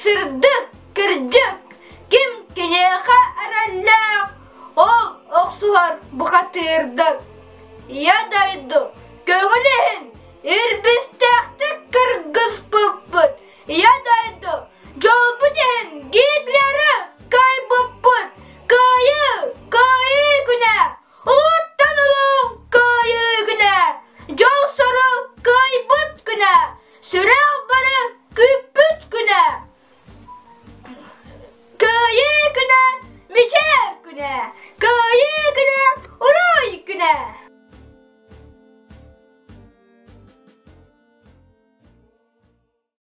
Сырдык, кырдьык, ким киниэхэ эрэллээх, ол охсуһар бухатыырдык. Я дойду, көҥүл иһин ирбистээхтик кыргыспыппыт. Я дойду, дьолбут иһин гитлеры кайбыппыт. Кыайыы, кыайыы күнэ, улуттан улуу кыайыы күнэ, дьол сорук кыайбыт күнэ. Сүрэх бары күүппүт күнэ Кыайыы күнэ Мичээр күнэ Кыайыы күнэ Урай күнэ